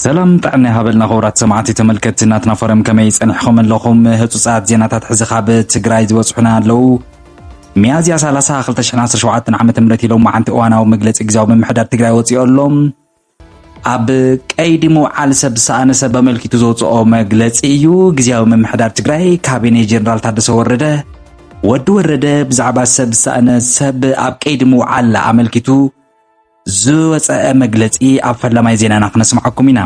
ሰላም ጥዕና ይሃበልና ክቡራት ሰማዕቲ ተመልከትቲ ናትና ፎረም ከመይ ጸኒሕኩም ኣለኹም ህጹጻት ዜናታት ሕዚ ካብ ትግራይ ዝበጽሑና ኣለዉ ሚያዝያ 30 2017 ዓ ም ኢሎም መዓንቲ እዋናዊ መግለፂ ግዜያዊ ምምሕዳር ትግራይ ወፂኦ ኣሎ ኣብ ቀይዲ ምውዓል ሰብ ዝሰኣነ ሰብ ኣመልኪቱ ዘውፅኦ መግለፂ እዩ። ግዜያዊ ምምሕዳር ትግራይ ካቢኔ ጀኔራል ታደሰ ወረደ ወዲ ወረደ ብዛዕባ ሰብ ዝሰእነ ሰብ ኣብ ቀይዲ ምውዓል ኣመልኪቱ ዝወፀአ መግለፂ ኣብ ፈላማይ ዜናና ክነስምዓኩም ኢና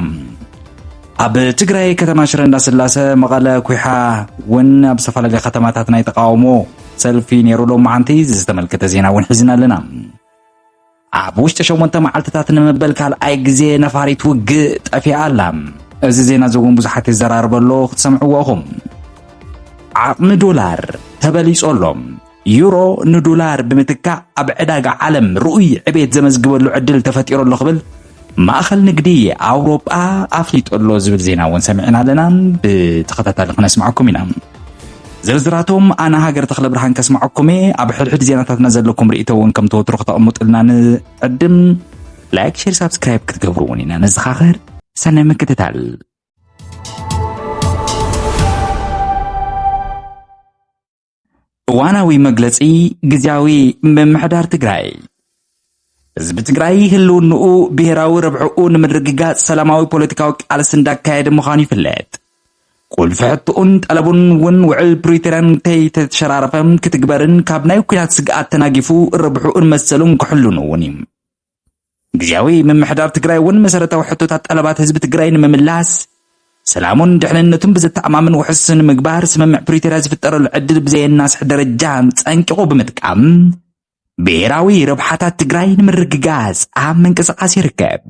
ኣብ ትግራይ ከተማ ሽረ እንዳስላሰ መቐለ ኩሓ እውን ኣብ ዝተፈላለየ ከተማታት ናይ ተቃውሞ ሰልፊ ነይሩ ሎ መዓንቲ ዝተመልከተ ዜና እውን ሒዝና ኣለና ኣብ ውሽጢ ሸሞንተ መዓልትታት ንመበል ካልኣይ ግዜ ነፋሪት ውግእ ጠፊኣ ኣላ። እዚ ዜና እዚ እውን ብዙሓት ይዘራርበ ኣሎ ክትሰምዕዎ ኢኹም። ዓቕሚ ዶላር ተበሊጾ ኣሎ። ዩሮ ንዶላር ብምትካእ ኣብ ዕዳጋ ዓለም ርኡይ ዕቤት ዘመዝግበሉ ዕድል ተፈጢሩ ኣሎ ክብል ማእኸል ንግዲ ኣውሮጳ ኣፍሊጡ ኣሎ ዝብል ዜና እውን ሰሚዕና ኣለና። ብተኸታታሊ ክነስማዕኩም ኢና። ዝርዝራቶም ኣነ ሃገር ተክለ ብርሃን ከስማዐኩም እየ ኣብ ሕድሕድ ዜናታትና ዘለኩም ርእቶ እውን ከም ተወትሮ ከተቕምጡልና ንዕድም ላይክ ሼር ሳብስክራይብ ክትገብሩ እውን ኢና ነዘኻኽር ሰናይ ምክትታል እዋናዊ መግለፂ ግዜያዊ ምምሕዳር ትግራይ ህዝቢ ትግራይ ህልውንኡ ብሄራዊ ረብሕኡ ንምርግጋፅ ሰላማዊ ፖለቲካዊ ቃልሲ እንዳካየደ ምዃኑ ይፍለጥ። ቁልፊ ሕትኡን ጠለቡን እውን ውዕል ፕሪቶርያን ከይተሸራረፈ ክትግበርን ካብ ናይ ኩናት ስግኣት ተናጊፉ ረብሕኡን መሰሉን ክሕሉን እውን እዩ ግዜያዊ ምምሕዳር ትግራይ እውን መሰረታዊ ሕቶታት ጠለባት ህዝቢ ትግራይ ንምምላስ ሰላሙን ድሕንነቱን ብዘተኣማምን ውሕስ ንምግባር ስምምዕ ፕሪቶርያ ዝፍጠረሉ ዕድል ብዘየናስሕ ደረጃ ፀንቂቑ ብምጥቃም ብሄራዊ ረብሓታት ትግራይ ንምርግጋጽ ኣብ ምንቅስቓስ ይርከብ።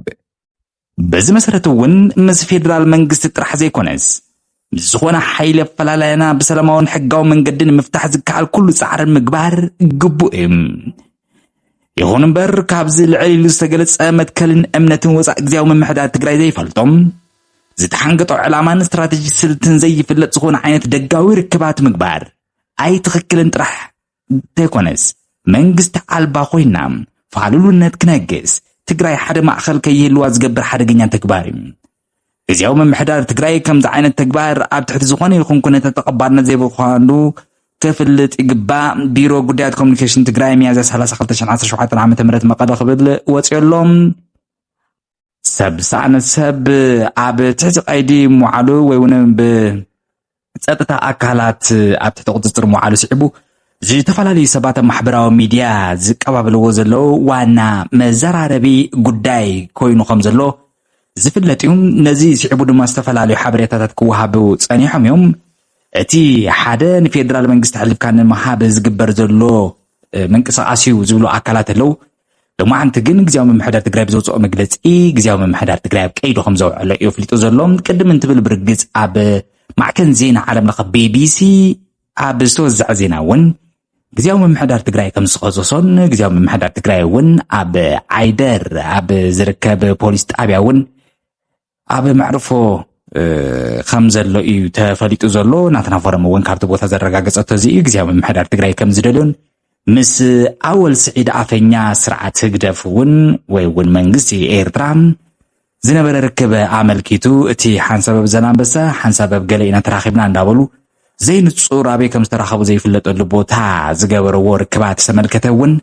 በዚ መሰረት እውን ምስ ፌዴራል መንግስቲ ጥራሕ ዘይኮነስ ምስ ዝኾነ ሓይሊ ኣፈላላይና ብሰላማውን ሕጋዊ መንገዲ ንምፍታሕ ዝከኣል ኩሉ ጻዕሪ ምግባር ግቡእ እዩ። ይኹን እምበር ካብዚ ልዕል ኢሉ ዝተገለጸ መትከልን እምነትን ወፃእ ግዜያዊ ምምሕዳር ትግራይ ዘይፈልጦም ዝተሓንገጦ ዕላማን ስትራቴጂ ስልትን ዘይፍለጥ ዝኾነ ዓይነት ደጋዊ ርክባት ምግባር ኣይትኽክልን ጥራሕ እንተይኮነስ መንግስቲ ኣልባ ኮይና ፋሉልነት ክነግስ ትግራይ ሓደ ማእኸል ከይህልዋ ዝገብር ሓደገኛ ተግባር እዩ። ግዜያዊ ምምሕዳር ትግራይ ከምዚ ዓይነት ተግባር ኣብ ትሕቲ ዝኾነ ይኹን ኩነታት ተቐባልነት ዘይብኳኑ ክፍልጥ ይግባእ ቢሮ ጉዳያት ኮሚኒኬሽን ትግራይ ሚያዝያ 30 2017 ዓ ም መቐለ ክብል ወፂኦ ኣሎ ሰብ ሳዕን ሰብ ኣብ ትሕቲ ቀይዲ ምውዓሉ ወይ እውን ብፀጥታ ኣካላት ኣብ ትሕቲ ቁፅፅር ምውዓሉ ስዒቡ ዝተፈላለዩ ሰባት ኣብ ማሕበራዊ ሚድያ ዝቀባበልዎ ዘለዉ ዋና መዘራረቢ ጉዳይ ኮይኑ ከም ዘሎ ዝፍለጥ እዩ ነዚ ስዒቡ ድማ ዝተፈላለዩ ሓበሬታታት ክወሃቡ ጸኒሖም እዮም እቲ ሓደ ንፌደራል መንግስቲ ኣሕሊፍካ ንምሃብ ዝግበር ዘሎ ምንቅስቃስ እዩ ዝብሉ ኣካላት ኣለዉ ሎማዓንቲ ግን ግዜያዊ ምምሕዳር ትግራይ ብዘውፅኦ መግለፂ ግዜያዊ ምምሕዳር ትግራይ ኣብ ቀይዱ ከም ዘውዕሎ እዩ ኣፍሊጡ ዘሎ ቅድም እንትብል ብርግፅ ኣብ ማዕከን ዜና ዓለም ለኸ ቤቢሲ ኣብ ዝተወዘዐ ዜና እውን ግዜያዊ ምምሕዳር ትግራይ ከም ዝኸሰሶን ግዜያዊ ምምሕዳር ትግራይ እውን ኣብ ዓይደር ኣብ ዝርከብ ፖሊስ ጣብያ እውን ኣብ መዕርፎ ከም ዘሎ እዩ ተፈሊጡ ዘሎ ናትና ፎረም እውን ካብቲ ቦታ ዘረጋገፀቶ እዚ እዩ ግዜያዊ ምምሕዳር ትግራይ ከም ዝደልዮን ምስ ኣወል ስዒድ ኣፈኛ ስርዓት ህግደፍ እውን ወይ እውን መንግስቲ ኤርትራ ዝነበረ ርክበ ኣመልኪቱ እቲ ሓንሳበብ ዘላንበሳ ሓንሳበብ ገለ ኢና ተራኺብና እንዳበሉ ዘይንፁር ኣበይ ከም ዝተራኸቡ ዘይፍለጠሉ ቦታ ዝገበረዎ ርክባት ዝተመልከተ እውን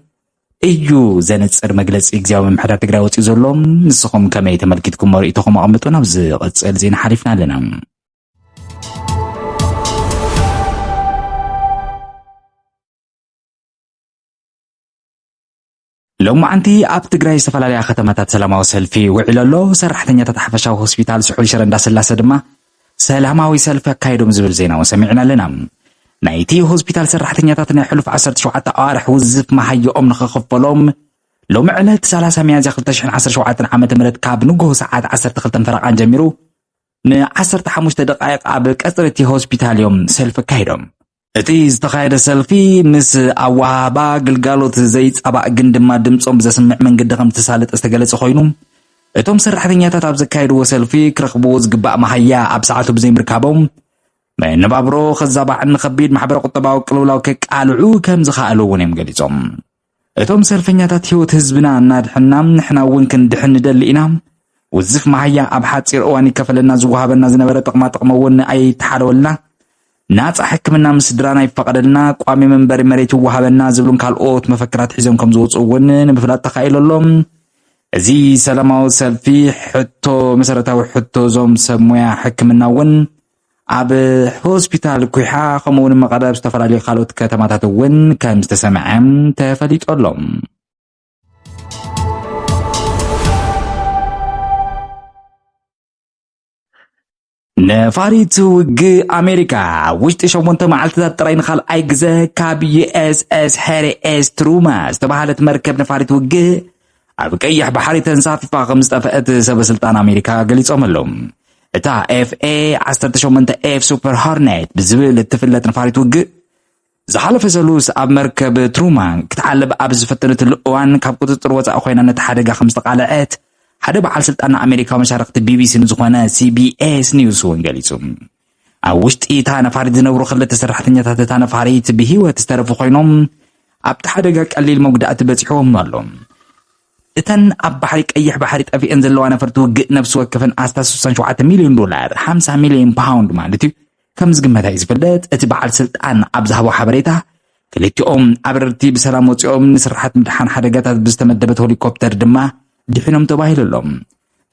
እዩ ዘንጽር መግለጺ ግዜያዊ ምምሕዳር ትግራይ ወፂኡ ዘሎ። ንስኹም ከመይ ተመልኪትኩሞ ርእይቶኹም ኣቐምጡ። ናብ ዝቕፅል ዜና ሓሊፍና ኣለና። ሎማዓንቲ ኣብ ትግራይ ዝተፈላለያ ከተማታት ሰላማዊ ሰልፊ ውዒሉ ኣሎ። ሰራሕተኛታት ሓፈሻዊ ሆስፒታል ስሑል ሽረ እንዳስላሰ ድማ ሰላማዊ ሰልፊ ኣካይዶም ዝብል ዜናውን ሰሚዕና ኣለና። ናይቲ ሆስፒታል ሰራሕተኛታት ናይ ሕሉፍ ዓሰርተ ሸውዓተ ኣዋርሕ ውዝፍ መሃየኦም ንኽኽፈሎም ሎሚ ዕለት ሰላሳ ሚያዝያ ክልተ ሽሕን ዓሰርተ ሸውዓተን ዓመተ ምህረት ካብ ንግሆ ሰዓት ዓሰርተ ክልተን ፈረቓን ጀሚሩ ንዓሰርተ ሓሙሽተ ደቓይቕ ኣብ ቀጽሪ እቲ ሆስፒታል እዮም ሰልፊ ኣካይዶም። እቲ ዝተኻየደ ሰልፊ ምስ ኣወሃህባ ግልጋሎት ዘይፃባእ ግን ድማ ድምፆም ብዘስምዕ መንገዲ ከምዝተሳለጠ ዝተገለፀ ኮይኑ እቶም ሰራሕተኛታት ኣብ ዘካየድዎ ሰልፊ ክረኽብዎ ዝግባእ መሃያ ኣብ ሰዓቱ ብዘይምርካቦም መነባብሮ ከዛባዕን ንከቢድ ማሕበረ ቁጠባዊ ቅልውላው ከቃልዑ ከም ዝኸኣሉ እውን እዮም ገሊፆም። እቶም ሰልፈኛታት ህይወት ህዝብና እናድሕና ንሕና እውን ክንድሕን ንደሊ ኢና። ውዝፍ መሃያ ኣብ ሓፂር እዋን ይከፈለና ዝወሃበና ዝነበረ ጥቕማ ጥቕሚ እውን ኣይተሓለወልና። ናፃ ሕክምና ምስ ስድራና ይፈቐደልና፣ ቋሚ መንበሪ መሬት ይወሃበና ዝብሉን ካልኦት መፈክራት ሒዞም ከም ዝወፅኡ እውን ንምፍላጥ ተኻኢሉ ኣሎ። እዚ ሰላማዊ ሰልፊ ሕቶ መሰረታዊ ሕቶ እዞም ሰብ ሞያ ሕክምና እውን ኣብ ሆስፒታል ኩሓ ከምኡውን መቐለ ኣብ ዝተፈላለዩ ካልኦት ከተማታት እውን ከም ዝተሰምዐ ተፈሊጡ ኣሎ ነፋሪት ውግእ ኣሜሪካ ኣብ ውሽጢ ሸሞንተ መዓልትታት ጥራይ ንካልኣይ ግዘ ካብ ዩኤስኤስ ሄሪ ኤስ ትሩማ ዝተባሃለት መርከብ ነፋሪት ውግእ ኣብ ቀይሕ ባሕሪ ተንሳፊፋ ከም ዝጠፍአት ሰበስልጣን ኣሜሪካ ገሊጾም ኣለዉ እታ ኤፍኤ 18 ኤፍ ሱፐር ሆርኔት ብዝብል እትፍለጥ ንፋሪት ውግእ ዝሓለፈ ሰሉስ ኣብ መርከብ ትሩማን ክትዓልብ ኣብ ዝፈተነትሉ እዋን ካብ ቁፅፅር ወፃኢ ኮይና ነቲ ሓደጋ ከም ዝተቓልዐት ሓደ በዓል ስልጣን ኣሜሪካዊ መሻርክቲ ቢቢሲ ንዝኾነ ሲቢኤስ ኒውስ እውን ገሊጹ ኣብ ውሽጢ እታ ነፋሪት ዝነብሩ ክልተ ሰራሕተኛታት እታ ነፋሪት ብህይወት ዝተረፉ ኮይኖም ኣብቲ ሓደጋ ቀሊል መጉዳእቲ በፂሑዎም ኣሎ። እተን ኣብ ባሕሪ ቀይሕ ባሕሪ ጠፊኤን ዘለዋ ነፈርቲ ውግእ ነብሲ ወከፈን ኣስታት 67 ሚልዮን ዶላር፣ 50 ሚልዮን ፓውንድ ማለት እዩ፣ ከም ዝግመታ እዩ ዝፍለጥ። እቲ በዓል ስልጣን ኣብ ዝሃቦ ሓበሬታ ክልቲኦም ኣበረርቲ ብሰላም ወፂኦም፣ ንስርሓት ምድሓን ሓደጋታት ብዝተመደበት ሆሊኮፕተር ድማ ድሒኖም ተባሂሉ ኣሎ።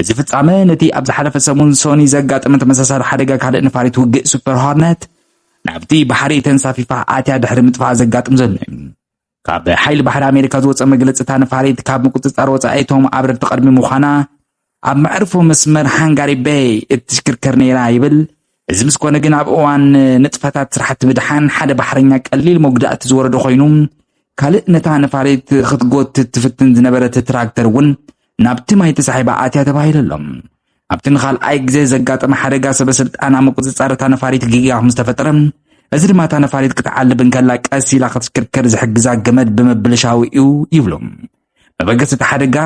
እዚ ፍጻመ ነቲ ኣብ ዝሓለፈ ሰሙን ሶኒ ዘጋጠመ ተመሳሳሊ ሓደጋ ካልእ ነፋሪት ውግእ ሱፐር ሆርነት ናብቲ ባሕሪ ተንሳፊፋ ኣትያ ድሕሪ ምጥፋኣ ዘጋጥም ዘሎ እዩ። ካብ ሓይሊ ባሕሪ ኣሜሪካ ዝወፀ መግለፂ እታ ነፋሪት ካብ ምቁፅፃር ወፃኢ እቶም ኣብረርቲ ቅድሚ ምዃና ኣብ መዕርፎ መስመር ሃንጋሪ ቤይ እትሽክርከር ነይራ ይብል እዚ ምስ ኮነ ግን ኣብ እዋን ንጥፈታት ስራሕቲ ምድሓን ሓደ ባሕረኛ ቀሊል መጉዳእቲ ዝወረዶ ኮይኑ ካልእ ነታ ነፋሪት ክትጎትት ትፍትን ዝነበረት ትራክተር እውን ናብቲ ማይ ተሳሒባ ኣትያ ተባሂሉ ኣሎ። ኣብቲ ንኻልኣይ ግዜ ዘጋጠመ ሓደጋ ሰበስልጣን ኣብ ምቁፅፃር እታ ነፋሪት ጌጋ ከም ዝተፈጠረ እዚ ድማ እታ ነፋሪት ክትዓልብ እንከላ ቀስ ኢላ ክትሽክርከር ዝሕግዛ ገመድ ብምብልሻው እዩ ይብሉ መበገሲ እቲ ሓደጋ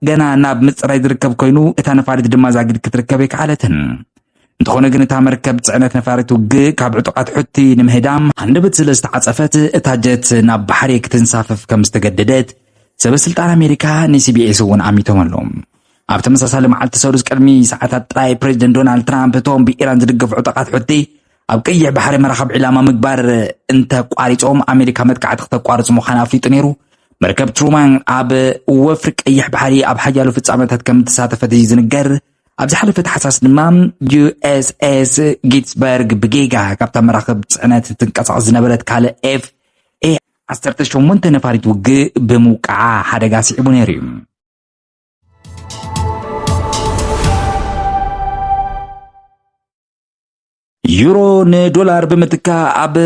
ገና ናብ ምፅራይ ዝርከብ ኮይኑ እታ ነፋሪት ድማ ዛጊድ ክትርከብ ኣይከኣለትን። እንተኾነ ግን እታ መርከብ ፅዕነት ነፋሪት ውግእ ካብ ዕጡቓት ሑቲ ንምህዳም ሃንደበት ስለ ዝተዓፀፈት እታ ጀት ናብ ባሕሪ ክትንሳፈፍ ከም ዝተገደደት ሰበስልጣን ኣሜሪካ ንሲቢኤስ እውን ኣሚቶም ኣለዉ። ኣብ ተመሳሳሊ መዓልቲ ሰሉስ ቅድሚ ሰዓታት ጥራይ ፕሬዚደንት ዶናልድ ትራምፕ እቶም ብኢራን ዝድገፉ ዕጡቓት ሑቲ ኣብ ቀይሕ ባሕሪ መራኸብ ዒላማ ምግባር እንተቋሪፆም ኣሜሪካ መጥቃዕቲ ክተቋርፅ ምዃን ኣፍሊጡ ነይሩ። መርከብ ትሩማን ኣብ ወፍሪ ቀይሕ ባሕሪ ኣብ ሓያሎ ፍፃመታት ከም እተሳተፈት እዩ ዝንገር። ኣብ ዝሓለፈ ተሓሳስ ድማ ዩኤስኤስ ጊትስበርግ ብጌጋ ካብታ መራኽብ ፅዕነት ትንቀሳቐስ ዝነበረት ካልእ ኤፍ ኤ 18 ነፋሪት ውግእ ብምውቃዓ ሓደጋ ስዒቡ ነይሩ እዩ ዩሮ ንዶላር ብምትካእ ኣብ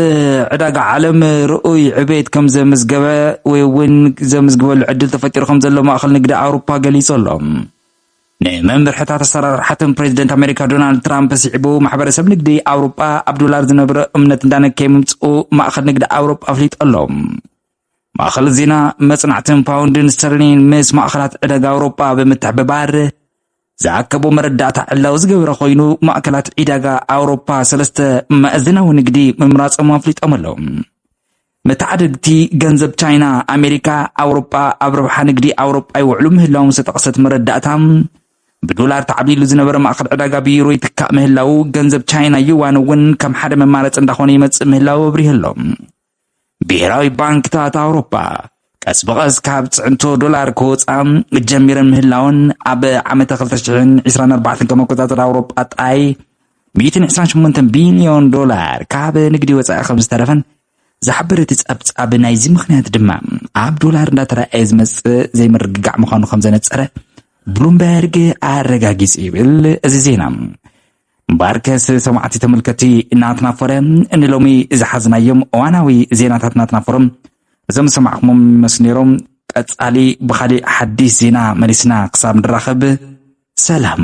ዕዳጋ ዓለም ርኡይ ዕቤት ከም ዘምዝገበ ወይ እውን ዘምዝግበሉ ዕድል ተፈጢሩ ከም ዘሎ ማእኸል ንግዲ ኣውሮፓ ገሊጹ ኣሎ። ንመምርሕታት ኣሰራርሓትን ፕሬዚደንት ኣሜሪካ ዶናልድ ትራምፕ ስዒቡ ማሕበረሰብ ንግዲ ኣውሮጳ ኣብ ዶላር ዝነብረ እምነት እንዳነከየ ምምፅኡ ማእኸል ንግዲ ኣውሮጳ ኣፍሊጡ ኣሎ። ማእኸል ዜና መጽናዕትን ፓውንድን ስተርሊን ምስ ማእኸላት ዕደጋ ኣውሮጳ ብምትሕብባር ዝኣከቦ መረዳእታ ዕላዊ ዝገበረ ኮይኑ ማእከላት ዒዳጋ ኣውሮፓ ሰለስተ መእዝናዊ ንግዲ ምምራጾም ኣፍሊጦም ኣለዉ መተዓደግቲ ገንዘብ ቻይና ኣሜሪካ ኣውሮጳ ኣብ ረብሓ ንግዲ ኣውሮጳ ይውዕሉ ምህላዎም ዝተጠቕሰት መረዳእታ ብዶላር ተዓብሊሉ ዝነበረ ማእኸል ዕዳጋ ብዩሮ ይትካእ ምህላው ገንዘብ ቻይና ዩዋን እውን ከም ሓደ መማረፂ እንዳኾነ ይመፅእ ምህላው ኣብሪሁ ኣሎ ብሄራዊ ባንክታት ኣውሮፓ ቀስ ብቐስ ካብ ፅዕንቶ ዶላር ክወፃ ጀሚረን ምህላወን ኣብ ዓመተ 2024 ከም ኣቆፃፅራ ኣውሮፓ ጥራይ 128 ቢልዮን ዶላር ካብ ንግዲ ወፃኢ ከም ዝተረፈን ዝሓብር እቲ ፀብፃብ ናይዚ ምክንያት ድማ ኣብ ዶላር እንዳተረኣየ ዝመፅእ ዘይምርግጋዕ ምዃኑ ከም ዘነፀረ ብሉምበርግ ኣረጋጊፁ ይብል እዚ ዜና። እምበኣርከስ ሰማዕቲ ተመልከቲ ናትና ፎረ ንሎሚ ዝሓዝናዮም እዋናዊ ዜናታት ናትና ፎረም እዞም ዝሰማዕኹሞም ይመስሉ ነይሮም ቀጻሊ ብኻሊእ ሓዲስ ዜና መሊስና ክሳብ ንራኸብ ሰላም